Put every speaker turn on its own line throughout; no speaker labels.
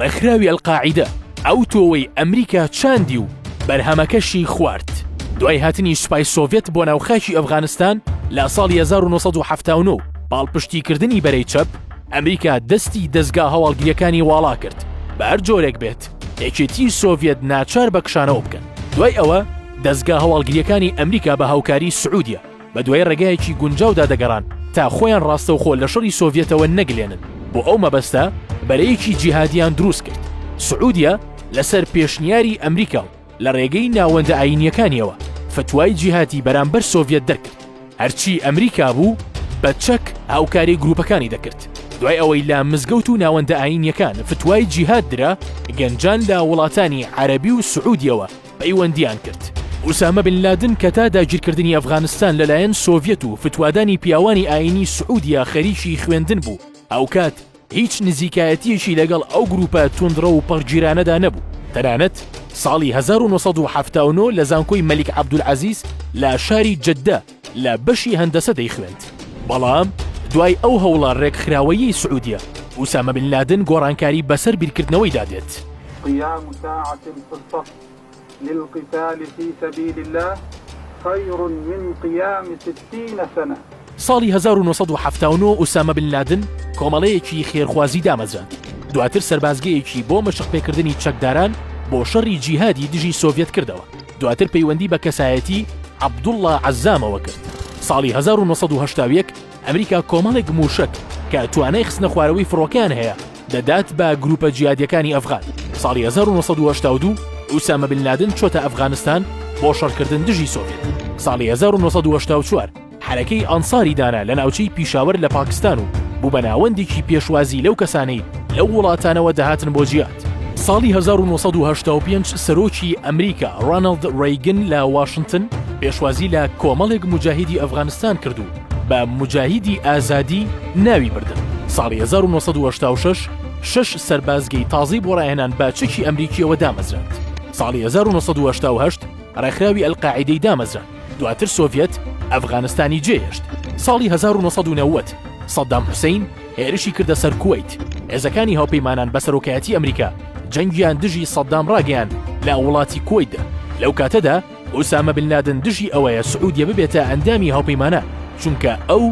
ڕێکخراوی ئەلقاعیدە ئەو تۆوەی ئەمریکا چاندی و بەرهەمەکەشی خوارد. دوای هاتنی سوپای سۆڤێت بۆ ناوخاکی ئەفغانستان لە ساڵی 1970 پاڵپشتیکردنی بەرەی چەپ ئەمریکا دەستی دەستگا هەواڵگریەکانی واڵا کرد بە هەر جۆرێک بێت یەکێتی سۆڤێت ناچار بە کشانەوە بکەن دوای ئەوە دەستگا هەواڵگریەکانی ئەمریکا بە هاوکاری سعودیە بەدوای ڕێگایەکی گونجاودا دەگەڕان تا خۆیان ڕاستەوخۆ لە شەڕی سۆڤیەتەوە نەگلێنن، بۆ ئەو مەبەستە بەرەیەکی جیهادیان دروست کرد، سعودیە لەسەر پێشنیاری ئەمریکا و لە ڕێگەی ناوەندە ئایینیەکانیەوە فتوای جیهادی بەرامبەر سۆڤیەت دەرکرد، هەرچی ئەمریکا بوو بە چەک هاوکاری گروپەکانی دەکرد، دوای ئەوەی لە مزگەوت و ناوەندە ئایینیەکان فتوای جیهاد درا، گەنجان لە وڵاتانی عەرەبی و سعودیەوە، پەیوەندیان کرد. ئوسامە بن لادن کە تا داگیرکردنی ئەفغانستان لەلایەن سۆڤیەت و فتوادانی پیاوانی ئایینی سعودیە خەریکی خوێندن بوو، هاوکات هیچ نزیکایەتییەکی لەگەڵ ئەو گرووپە توندڕەو و پەڕگیرانەدا نەبوو، تەنانەت ساڵی هەزار و نۆ سەد و حەفتا و نۆ لە زانکۆی مەلیک عەبدولعەزیز لە شاری جدە، لە بەشی هەندەسە دەیخوێند، بەڵام دوای ئەو هەوڵە رێکخراوەییەی سعودیە، ئوسامە بن لادن گۆڕانکاری بەسەر بیرکردنەوەیدا دێت. قیام
ساعە فی الصف للقتال فی سبیل اللە خیر من قیام ستین سنە. ساڵی هەزار و نۆ
سەد و حەفتا و نۆ ئوسامە بن لادن کۆمەڵەیەکی خێرخوازی دامەزراند، دواتر سەربازگەیەکی بۆ مەشقپێکردنی چەکداران بۆ شەڕی جیهادی دژی سۆڤیەت کردەوە. دواتر پەیوەندی بە کەسایەتی، عەبدوڵڵا عەزامەوە کرد. ساڵی هەزار و نۆ سەد و هەشتا و یەک ئەمریکا کۆمەڵێک مووشەک کە توانای خستنەخوارەوەی فڕۆکەیان هەیە دەدات بە گرووپە جیهادییەکانی ئەفغان. ساڵی هەزار و نۆ سەد و هەشتا و دوو ئوسامە بن لادن چۆتە ئەفغانستان بۆ شەڕکردن دژی سۆڤێت. ساڵی هەزار و نۆ سەد و هەشتا و چوار حەرەکەی ئەنساری دانا لە ناوچەی پیشاوەر لە پاکستان و بوو بە ناوەندێکی پێشوازی لەو کەسانەی لەو وڵاتانەوە دەهاتن بۆ جیاد. ساڵی هەزار و نۆ سەد و هەشتا و پێنج سەرۆکی ئەمریکا ڕاناڵد ڕەیگن لە واشنتن پێشوازی لە کۆمەڵێک موجاهیدی ئەفغانستان کرد و بە موجاهیدی ئازادی ناوی بردن. ساڵی هەزار و نۆ سەد و هەشتا و شەش شەش سەربازگەی تازەی بۆ ڕاهێنان بە چەکی ئەمریکییەوە دامەزراند. ساڵی هەزار و نۆ سەد و هەشتا و هەشت ڕێکخراوی ئەلقاعیدەی دامەزراند. دواتر سۆڤیەت ئەفغانستانی جێهێشت، ساڵی هەزار و نۆ سەد و نەوەد سەدام حوسەین هێرشی کردە سەر کوەیت، هێزەکانی هاوپەیمانان بە سەرۆکایەتی ئەمریکا جەنگیان دژی سەدام ڕاگەیاند لە وڵاتی کوەیتدا، لەو کاتەدا ئوسامە بن لادن دژی ئەوەیە سعودیە ببێتە ئەندامی هاوپەیمانان چونکە ئەو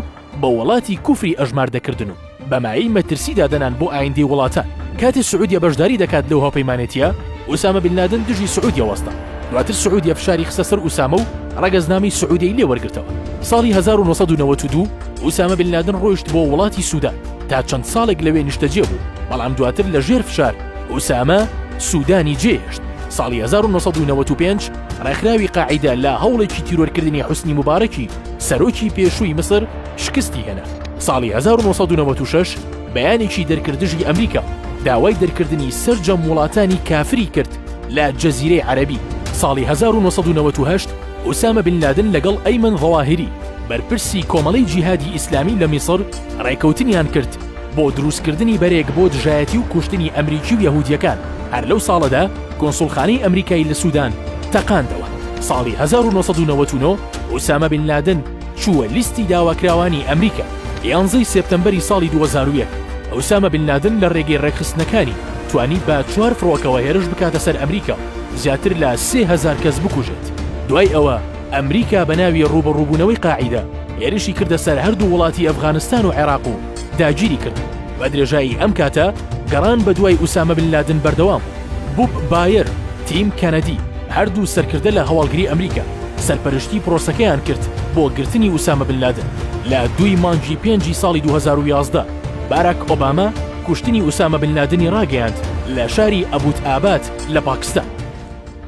بە وڵاتی کوفری ئەژمار دەکردن و بە مایەی مەترسی دادەنان بۆ ئایندەی وڵاتان، کاتێ سعودیە بەشداری دەکات لەو هاوپەیمانێتییە، ئوسامە بن لادن دژی سعودیە وەستا، دواتر سعودیە فشاری خستە سەر ئوسامە و ڕەگەزنامەی سعودیەی لێ وەرگرتەوە، ساڵی هەزار و نۆ سەد و نەوەد و دوو ئوسامە بن لادن ڕۆیشت بۆ وڵاتی سودان تا چەند ساڵێک لەوێ نیشتەجێ بوو، بەڵام دواتر لە ژێر فشار ئوسامە سودانی جێهێشت، ساڵی هەزار و نۆ سەد و نەوەد و پێنج ڕێکخراوی قاعیدە لە هەوڵێکی تیرۆرکردنی حوسنی موبارەکی، سەرۆکی پێشووی میسر شکستی هێنا، ساڵی هەزار و نۆ سەد و نەوەد و شەش بەیانێکی دەرکرد دژی ئەمریکا و داوای دەرکردنی سەرجەم وڵاتانی کافری کرد لە جەزیرەی عەرەبی، ساڵی هەزار و نۆ سەد و نەوەد و هەشت ئوسامە بن لادن لەگەڵ ئەیمەن زەواهیری بەرپرسی کۆمەڵەی جیهادی ئیسلامی لە میسر ڕێکەوتنیان کرد بۆ دروستکردنی بەرێک بۆ دژایەتی و کوشتنی ئەمریکی و یەهودییەکان، هەر لەو ساڵەدا کونسوڵخانەی ئەمریکای لە سودان تەقاندەوە، ساڵی هەزار و نۆ سەد و نەوەد و نۆ ئوسامە بن لادن چووە لیستی داواکراوانی ئەمریکا. یانزە ی سێپتەمبەری ساڵی دوو هەزار و یەک، ئوسامە بن لادن لە رێگەی رێکخستنەکانی توانی بە چوار فڕۆکەوە هێرش بکاتە سەر ئەمریکا و زیاتر لە سێ هەزار کەس بکوژێت. دوای ئەوە ئەمریکا بە ناوی رووبەڕووبوونەوەی قاعیدە هێرشی کردە سەر هەردوو وڵاتی ئەفغانستان و عێراق و داگیری کردن. بە درێژایی ئەم کاتە گەڕان بە دوای ئوسامە بن لادن بەردەوام بوو. بوب بایەر، تیم کەنەدی، هەردوو سەرکردە لە هەواڵگری ئەمریکا سەرپەرشتی پرۆسەکەیان کرد بۆ گرتنی ئوسامە بن لادن، لە دووی مانگی پێنجی ساڵی دوو هەزار و یازدە باراک ئۆباما کوشتنی ئوسامە بن لادنی ڕاگەیاند لە شاری ئەبوت ئابات لە پاکستان.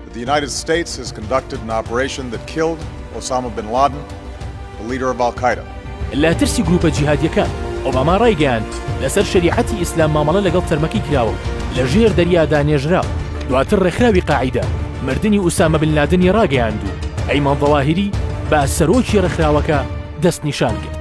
The United
States has conducted an operation that killed Osama Bin Laden, the leader of Al-Qaeda. لە ترسی گرووپە
جیهادییەکان، ئۆباما ڕایگەیاند، لەسەر شەریعەتی ئیسلام مامەڵە لەگەڵ تەرمەکەی کراوە و لە ژێر دەریادا نێژراوە. دواتر ڕێکخراوی قاعیدە مردنی ئوسامە بن لادنی ڕاگەیاند و ئەیمان زەواهیری بە سەرۆکی ڕێکخراوەکە دەستنیشان کرد.